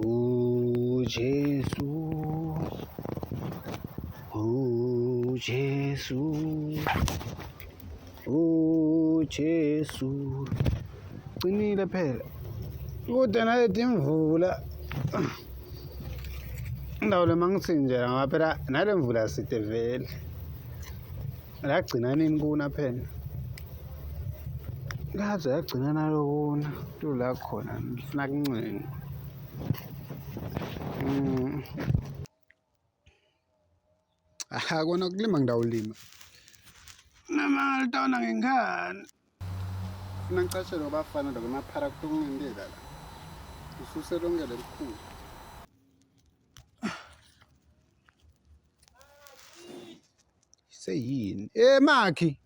Oh Jesus, oh Jesus, oh Jesus. Qinile phela. Kude nayethe imvula. Indawo le mangithi nje ngaphela nale mvula side vele. Lagcina nini kuna phela? Laze yagcina nalokuna tu la khona ngifuna kuncenga. Mm. Aha kona kulima ngidawulima. Mama litawona ngengane. Funa ngicashele abafana lokho emaphara kutokungendeka la. Ususe lonke lelikhulu. Seyini. Eh Makhi.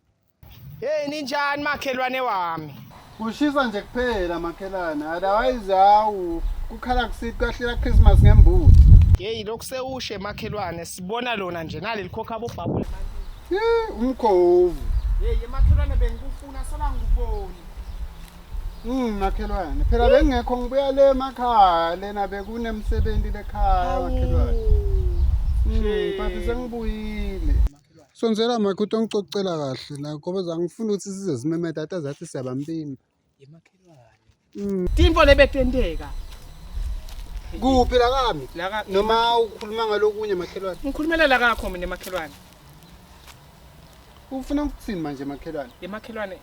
Hey ninjani makhelwane wami? Kushisa nje kuphela makhelwane. Otherwise hawu kukhala kusithi kwahlela Christmas ngembuzi. Hey lokhu sewushe makhelwane sibona lona nje nali likhokha abobhabule. Eh umkhovu. Hey makhelwane bengikufuna sola ngikuboni. Mm makhelwane. Phela bengekho ngibuya le emakhaya lena bekunemsebenzi lekhaya makhelwane. Mm bathi sengibuyile. Sonzela makhuthi ongicocela kahle la ngoba zangifuna ukuthi size simeme tata zathi siyabambimba. Yemakhelwane. Timfo lebetenteka. Kuphi la kami? Laka Noma ukhuluma ngalokunye makhelwane. ngikhulumela la kakho mina emakhelwane. Ufuna ukuthini manje makhelwane? Yemakhelwane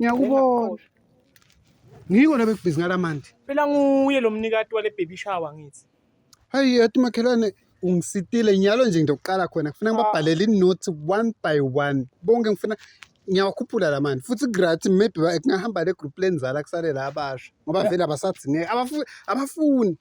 ngiyakubona ngiko nabekubhizi ngalamandi phela nguye lo mnikati wale baby shower ngithi hayi yathi makhelwane ungisitile nyalo nje ngiyokuqala khona ngifuna ngibabhalele ah. inothi one by one bonke ngifuna ngiyawakhuphula la mani futhi gratis maybe kungahamba le group lenzala kusale la abasha ngoba vele abasadzineki abafuni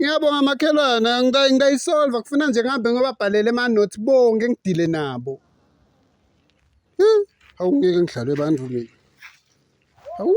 Ngiyabonga makhelwane ngiyayisolva kufuna nje ngihambe ngobabhalele amanothi bonke ngidile nabo. Hmm, hawu ngeke ngidlalwe bantu mina. Hawu.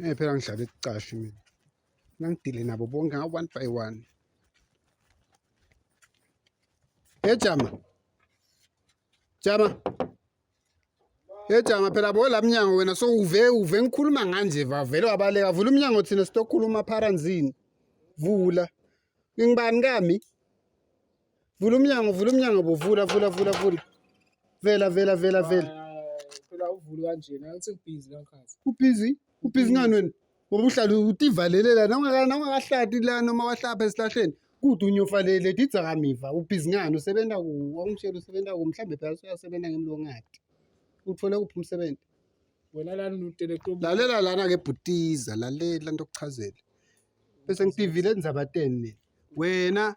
Eh phela ngidlala ekucashi mina. Ngangidile nabo bonke nga one by one. Hey Jama. Jama. Hey Jama phela bo lamnyango wena so uve uve ngikhuluma nganje vavele wabaleka vula umnyango thina sitokhuluma pharanzini. Vula. Ngingibani kami? Vula umnyango, vula umnyango bo, vula vula vula vula. Vela vela vela vela. Phela uvulu kanjena, angithi ubhizi kankazi. Ubhizi? Ubhizi ngani wena? Ngoba uhlala utivalele la nawungaka nawungakahlati la noma wahlapha esihlahleni. Kude unyofalele didzakamiva. Ubhizi ngani usebenza ku wangishela usebenza ku mhlambe phela uyasebenza ngemlongati. Uthole kuphi umsebenzi? Wena lana utelekto. Lalela lana ke bhutiza, lalela ntokuchazela. Bese ngipivile enzabateni mina. Wena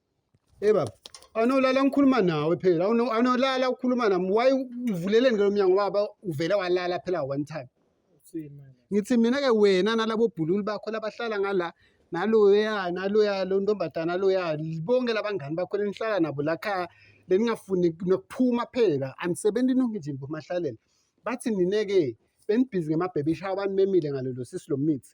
Hey baba, anolala ngikhuluma nawe phela. Anolala ukhuluma nami. Why uvuleleni ke lo mnyango baba uvele walala phela one time. Ngithi mina ke wena nalabo bhululu bakho labahlala ngala naloya naloya lo ntombazana loya bonke labangani bakho lenihlala nabo la khaya beningafuni nokuphuma phela anisebenzi nonke nje nibomahlalele bathi nine-ke benibhizi ngemabhebisha abantu bemile ngalelo sisi lo mithi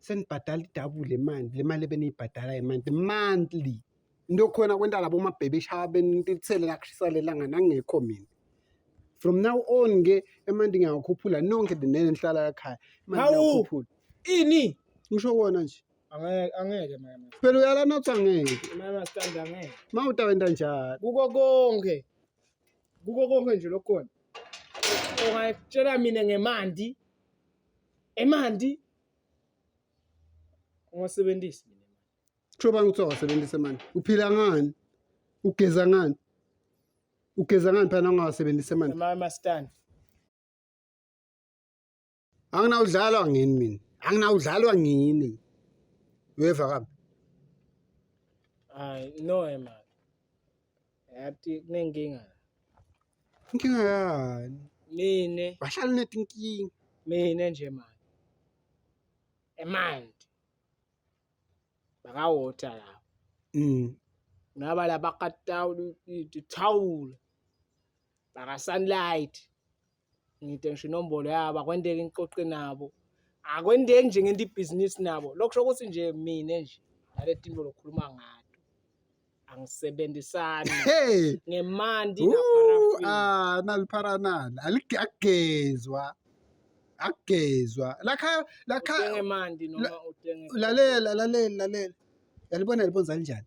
senibhadala idabule le mali le mali ebeniyibhadala yemanti monthly into khona kwenta labo mabhebe ishaya benithele lakushisa lelanga nangekho mina from now on ke emanti ngiyawakhuphula nonke dinene nihlala lakhaya imantiyakhuphula ini ngisho kona nje angeke mama phela uyalana uthi angeke mama stand angeke ma utawenta njalo kuko konke kuko konke nje lokhona ungayitshela mina ngemanti emanti ungasebenzisi Kusho bani ukuthi awasebenzise manje? Uphila ngani? Ugeza ngani? Ugeza ngani phela ungawasebenzise manje? Mama stand. Anginawudlalwa ngini mina. Anginawudlalwa ngini. Uyeva kabi? Hayi no emali. Yati kunenkinga. Inkinga yani. Mina. Bahlala netinkinga. Mina nje manje. Emanti. Bakawota la. Mm. Ngaba la bakatawula ithawula. Baka sunlight. ngide ngisho inombolo yabo akwendeki ngiqoqe nabo akwendeki nje ngento ibhizinisi nabo lokho kusho ukuthi nje mina nje nale tinto lokhuluma ngayo angisebenzisani hey. ngemandi ah nalipharanana aligagezwa akugezwa lakha lakha ngemandi noma udenge lalela lalela lalela yalibona libonza linjani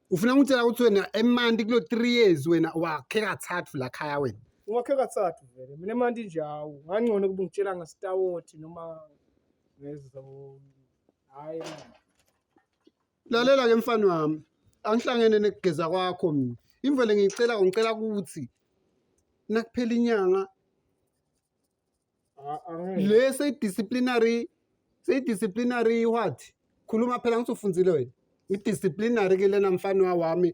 ufuna ngitshela ukuthi wena emanti kulo 3 years wena wakhe kathathu la khaya wena ungakhe kathathu vele mina emanti nje hawu ngangcono kuba ngitshela ngasitawoti noma ngezo hayi lalela ke mfana wami angihlangene nekugeza kwakho mina imvele ngicela ngicela ukuthi nakuphela inyanga A- angeke. le seyi-disciplinary seyi-disciplinary what khuluma phela ngithi ufundile wena i-disciplinary ke lena mfana wami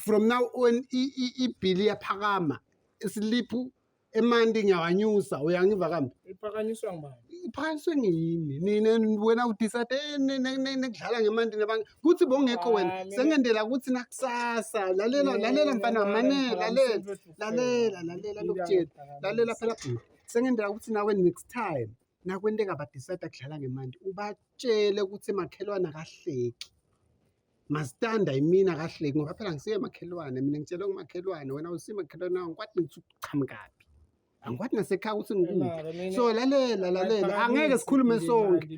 from now on i- i- ibhili iyaphakama isiliphu emanti ngiyawanyusa uyangiva kambi iphakanyiswa ngubani iphakanyiswe ngiyini nina wena udisade eh, ne- ne- ne- nekudlala ngemanti nabanye kuthi bongekho Ah, wena mina- sengendela kuthi nakusasa lalela lalela mfana wami mane lalela lalela lalela lokutshela lalela phela bhuti sengenzela ukuthi nawe next time nakwenteka badicide kudlala ngemandi ubatshele ukuthi makhelwane akahleki masitanda yimina kahleki ngoba phela ngisiye makhelwane mina ngitshelwe ngumakhelwane wena usiye makhelwane angikwati ngithi ukuchamukaphi angikwati nasekhaya ukuthi ngikuphi so lalela lalela angeke sikhulume sonke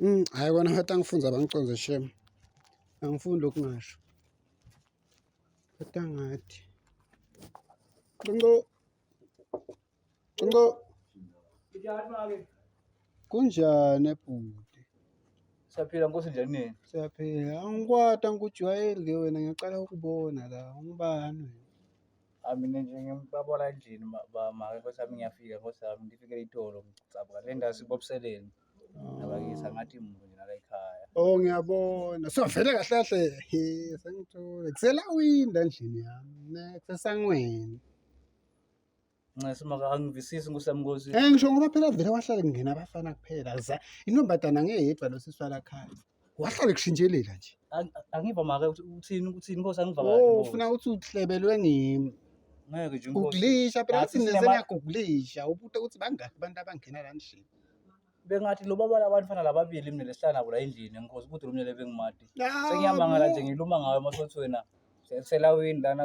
Mm, hayi kona ngathi angifunza abangiconze shem angifundi okungasho kodwa ngathi ncinco ncinco kunjani ebhuti saphila nkosi njani nini siyaphila angikwati angikujwayeli ke wena ngiyaqala ukubona la ungubani wena Ah, mina nje ngibabola endlini ma- ba- make nkosi yami ngiyafika nkosi yami ngifike itolo ngicabanga le ndawo sibobuseleni nabakisa ngathi muntu nje nala ekhaya Oh ngiyabona. So vele kahle kahle he sengithole. Kusela winda endlini yami. Ne kusesangweni. ncese maka angivisisi nkosi yami nkosi Eh ngisho ngoba phela vele wahlale kungena abafana kuphela. Za- Intombazana ngeyedwa losiswala khaya. wahlale kushintshelela nje Ang- angiva make ukuthi uthini ukuthini inkosi angiva kahle oh inkosi. ufuna ukuthi uhlebelwe ngimi ngeke nje inkosi guglisha phela Ngathi uthi sinema- nesenaguglisha ubuta ukuthi bangaki abantu abangena la ndishini bengathi lo baba labantu fana lababili mina lesihlala nabo la endlini enkosi ukuthi lomnyele bengimati sengiyamangala nje ngiluma ngayo amasothi wena selawini lana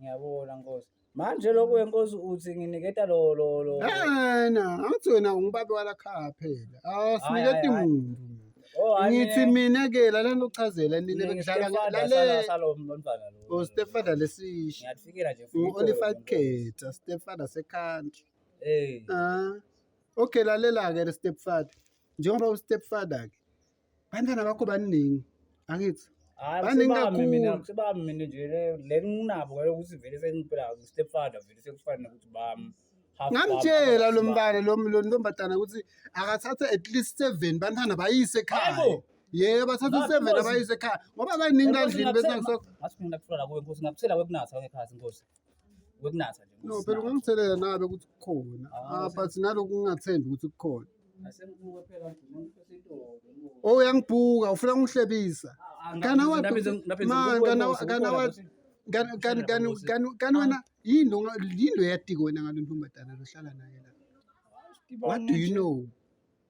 Ngiyabona Nkosi. Manje lokhu wenkosi uthi nginiketa lo lo lo. Ena, angithi wena ungubabe wala khaya phela. Ah, siniketa Hhayi, hhayi, imuntu. Oh, hhayi, Ngithi mina- mina ke la lento uchazela nini mina bengidlala ngiyiStepfather sala- lale salo mntwana lo. o stepfather lesisha. Ngiyakufikela nje futhi. Ngu-Olified Khetha, stepfather secountry. Eh. Ah. Okay lalela ke stepfather. Njengoba ustepfather ke Bantwana bakho baningi angithi baningi kakhulu mina nje le nginabo ngale ukuthi vele sengiphela step father vele sekufanele ukuthi bami ngamtshela lo mntana lo ntombazana ukuthi akathathe at least seven bantwana bayise ekhaya yebo bathatha seven abayise ekhaya ngoba baningi kandlini bese ngisokho ngathi mina kufuna kuwe nkosi ngakuthela wekunatha ekhaya nkosi wekunatha nje no phela ungumthelela nabe ukuthi kukhona ah, ah but naloku ungathembi ukuthi kukhona oh uyangibhuka ufuna ungihlebisa ah, kana wa kana wa kana wena yini yini oyatiko wena ngalo ntombazana lohlala naye la what do you know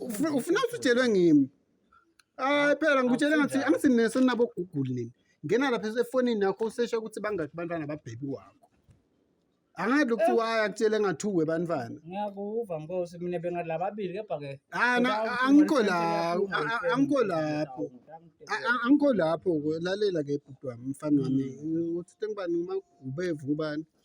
ufuna ufuna ukuthi utshelwe ngimi hayi phela ngikutshele ngathi angithi nina senabo google nini ngena lapha efonini yakho usesha ukuthi bangaki abantwana babhebi wakho angathi ukuthi waya kutshele ngathuwe bantwana ngiyakuva nkosi mina bengalababili kepha ke hayi na angikho lapho a- a- angikho lapho A- a- angikho lapho ke lalela ke bhuti wami mfana wami uthi sengibani uma ubevu ubani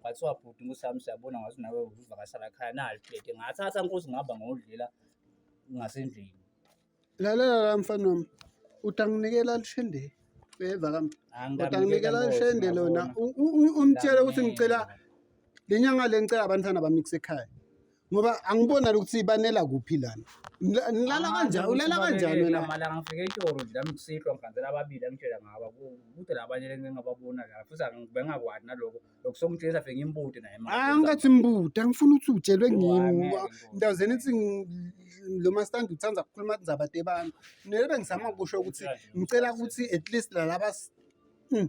Kwathiwa bhuti uSami siyabona ngathi nawe uzivakashela khaya nali plate. Ngathatha nkosi ngihamba ngodlela ngasendlini. Lalela la mfana wami. Utanginikela lishende. Beva kam. Utanginikela lishende lona. Umtshele ukuthi ngicela lenyanga le ngicela abantwana bami kusekhaya. ngoba angibona ukuthi banela kuphi lana Nila- nilala Ah, kanjani ukuthi ulala babeke kanjani wena lamalanga ngifike eToro nje nami kusihlwa ngihambela ababili angitshela ngaba ku- kude labanye lengingababona la futhi angi- bengakwani naloko lokhu sokungitshengisa fike ngimbude naye manje. hayi angathi mbuda angifuni ukuthi utshelwe Yo, ngini angeke, ngoba ngeke. ndawo zeni ithi ngi- lo mastandi uthanda ukukhuluma indaba tebami nele bengizama kusho ukuthi ngicela ukuthi at least lalaba s- Mm.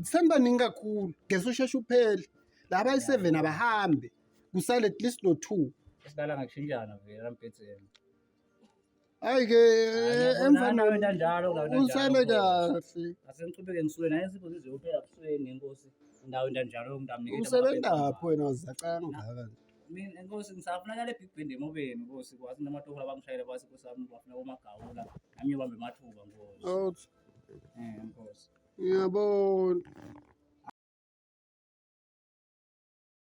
senibaningi kakhulu ngeke usheshe uphele laba ayi-seven abahambe kusale at least no-two esidala ngakushintshana vele nambhedzeni hayi ke emva usale kahle asengiqhubeke ngisuke naye sipho sizoyophela busweni inkosi ndawo ndanjalo ngitamnikela usebenzaphi wena wazacanga ngaka mina nkosi ngisafunakala ebig band emobeni nkosi kwathi namatohola bangishayela kwathi nkosi wami bafuna komagawula nami ngibambe mathuba nkosi out eh nkosi ngiyabona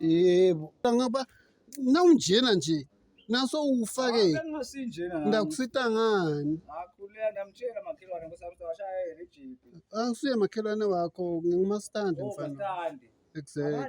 yebo ngoba nawunjena nje naso ufake ndakusita ngani akusuye makhelwane wakho ngingumastandi oh, mfana exactly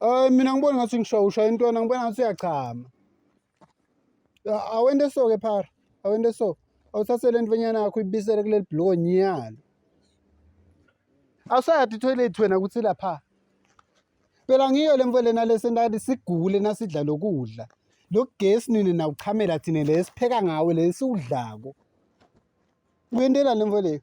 Ay mina ngibona ngathi ngishawa ushaya intwana ngibona ngathi uyachama. Awende so ke phara. Awende so. Awuthathe le ntwenyana yakho ibisele kuleli bhloko nyalo. Awusayati toilet wena ukuthi lapha. Phela ngiyo le mfo lena lesentali sigule nasidla lokudla. Lo gesi nini nawuchamela thina le sipheka ngawo le siwudlako. Uyentela le mfo le.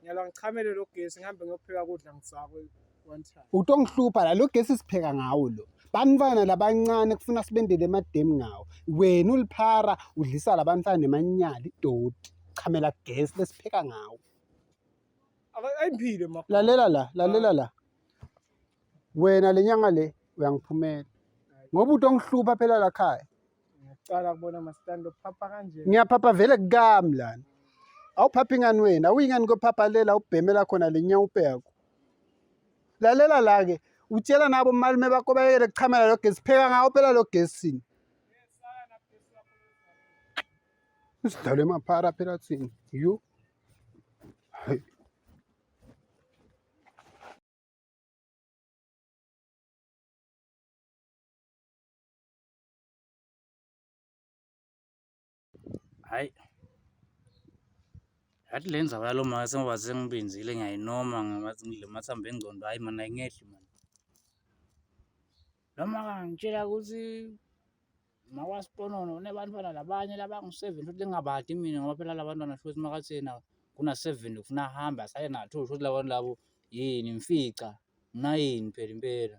Ngiyalwa ngichamele lo gesi ngihambe ngiyopheka kudla ngisakwe one time. Utongihlupha la lo gesi sipheka ngawo lo. Bantwana labancane kufuna sibendele emademu ngawo. Wena uliphara udlisa labantwana nemanyala idoti. Chamela gesi lesipheka ngawo. Aka- Ayiphile ma. Lalela la, lalela la. Wena lenyanga le uyangiphumela. Ngoba utongihlupha phela la khaya. Ngiyaqala kubona masitandi uphapha kanje. Ngiyaphapha vele kukami lana. Awuphaphi ngani wena? Awuyingani kophapha lela ubhemela khona lenyawupe yakho. Lalela la ke. Utshela nabo malume bakho bayekele kuchamela lo gesi. Pheka ngawo phela lo gesini. Usidlale maphara phela thina. You. Hayi. Hhayi, yathi le ndzaba yalo make sengoba sengibenzile ngiyayinoma ngathi ngidle amathambo engcondo, hhayi mani ayingehli mani. Lo maka ngangitshela ukuthi makwaSiponono unebantwana labanye labangu-seven futhi lingabadi mina ngoba phela la bantwana shuthi makathi yena kuna-seven ufuna ahambe asale na-two shuthi la bantu labo yini ngifica nginayini phela impela.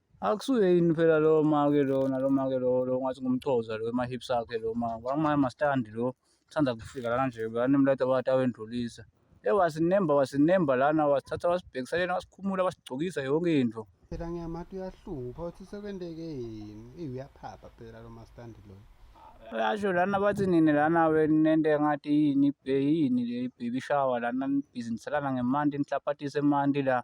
Akusuye yini phela lo make lona lo make lo lo ngathi ngumchoza lo emahips akhe lo ma kwamanye amastandi lo uthanda kufika lana nje banemlata bathi awendlulisa ye wasinemba wasinemba lana wasithatha wasibhekisa lena wasikhumula wasigcokisa yonke into phela ngiyamathi uyahlupha uthi sekwenteke yini eyi uyaphapha phela lo mastandi lo uyasho lana bathi nini lana nento engathi yini yini le baby shower lana nibhizinisa lana ngemanti nihlapathise emanti la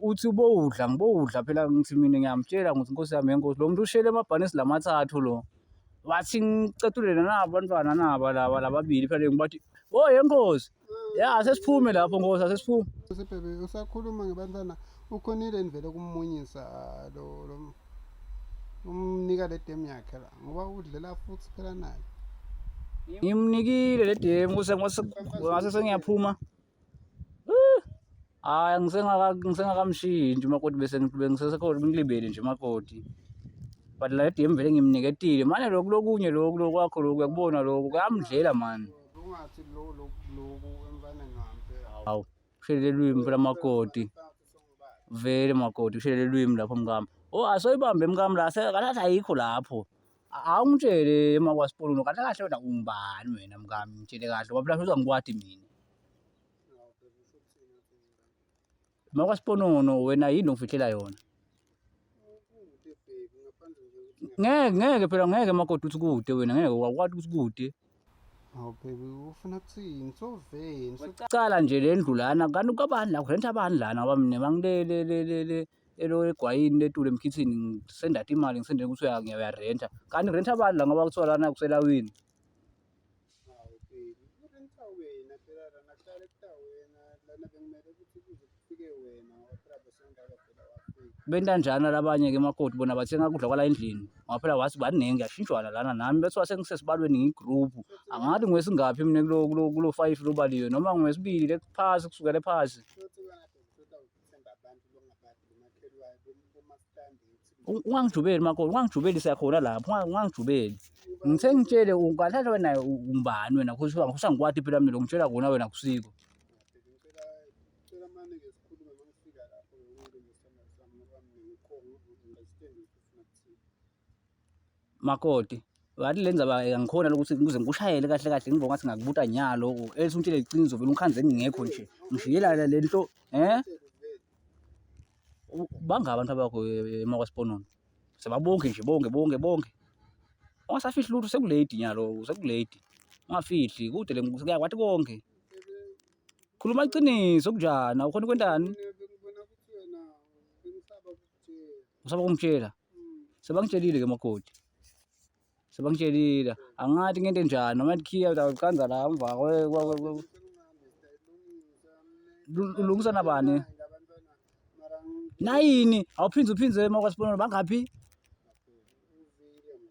uthi ubowudla ngibowudla phela ngithi mina ngiyamtshela ngithi nkosi yami yenkosi lo muntu ushele emabhanisi lamathathu lo wathi ngicatulele nabo abantwana naba laba lababili phela ngibathi o oh, yenkosi mm. ya sesiphume lapho nkosi asesiphume sibhebe usakhuluma ngebantwana ukhonile nivele kumunyisa ah, lo umnika le demu yakhe la ngoba udlela futhi phela naye ngimnikile le demu ngase sengiyaphuma Hayi ngisengakamshiyi nje umakoti bese bengisesekhona ngilibele nje umakoti. But la DM vele ngimniketile. Manje lokhu lokunye lokhu lokwakho lokhu uyakubona lokhu kuyamdlela mani. Ungathi lo lokhu lokhu emfana ngampe. Hawu kushelele lwimi phela makoti. Vele makoti kushelele lwimi lapho mkami. Oh asoyibambe mkami la sekathatha ayikho lapho. Awungitshele uma kwasipololo kahle kahle wena ungubani wena mkami ngitshele kahle wabula uza ngikwadi mina. Uma kwasiponono wena yini ongifihlela yona? Ngeke ngeke phela ngeke makoti uthi kude wena ngeke wakwati ukuthi kude. Hawu baby ufuna kuthini? So vain. So Cala nje le ndlu lana kanti kwabani la kurenta abani lana ngoba mina bangilele le le le elo egwayini letule emkhithini ngisenda imali ngisendele ukuthi uya ngiyarenta kanti renta abantu la ngoba kuthiwa lana kuselawini bentanjana labanye ke makoti bona bathenga kudla kwala endlini ngaphela wathi baningi ngiyashintshwana lana nami bethiwa sengisesibalweni ngiyigroup angathi ngwesingaphi mina kulo kulo kulo five lobaliwe noma ngwesibili phasi kusukela phasi ungangijubeli makoti ungangijubeli siyakhona lapho ungangijubeli ngithe ngitshele ungathatha wena umbani wena usangikwati phela mina ngitshela kona wena kusiko Makoti, wathi le ndzaba angikhona lokuthi kuze ngikushayele kahle kahle ngibo ngathi ngakubuta nyalo elise untshele iqiniso vele ungikhandze ngingekho nje ngishiyelana le nto um banga abantu abakho emakwasphonono sebabonke nje bonke bonke bonke ungasafihli lutho sekuledi nyalo sekuledi ungafihli kude le kuyakwathi konke khuluma iqiniso kunjani awukhona ukwentani Usaba kungitshela. Sebangitshelile ke makoti. Sebangitshelile. Angathi ngento enjani noma ikhiya uqanza la umva ulungisa nabani? Nayini awuphinde uphinde emakwaSibonelo bangaphi?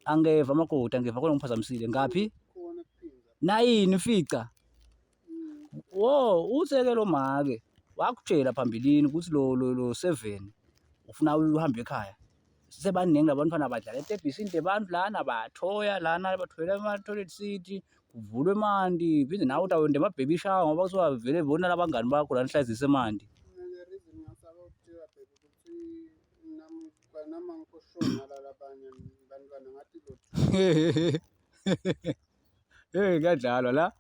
Angeva makoti angeva khona ngiphazamisile ngaphi? Nayini ufica. Wo, utheke lo make wakutshela phambilini ukuthi lo lo lo seven ufuna uhambe ekhaya. Sebaningi labantwana badlala etebhisini lebantu lana bathoya lana bathoyela ama-toilet city kuvulwe emanti phinde nawe utawenda ema-baby shower ngoba kusuka vele bona labangani bakho lana hlazise emanti. Nami angikho sure ngalala abanye bantwana ngathi lutho. Hey kuyadlalwa la.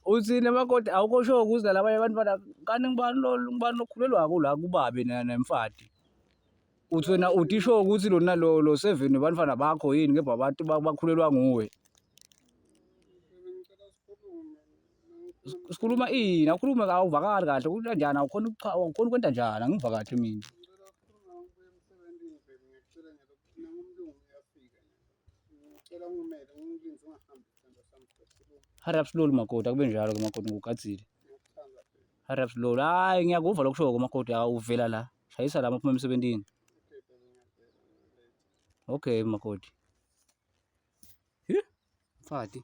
Uthi namakoti awukho sho ukuza labanye abantu bana kanti ngibani lo ngibani lokhulelwa ko la kubabe nemfati. Uthi wena uthi sho ukuthi lona lo lo seven bantwana bakho yini ngebha abantu bakhulelwa nguwe. Sikhuluma ini awukhulume awuvakali kahle ukuthi kanjani awukhona ukucha awukhona ukwenta njani angivakali mina. Hurry up slowly makoti akube njalo ke makoti ngikugadzile. Hurry up slowly. Hayi ngiyakuva lokusho ke makoti awuvela la. Shayisa la maphuma emsebenzini. Okay makoti. Hi? Mfati.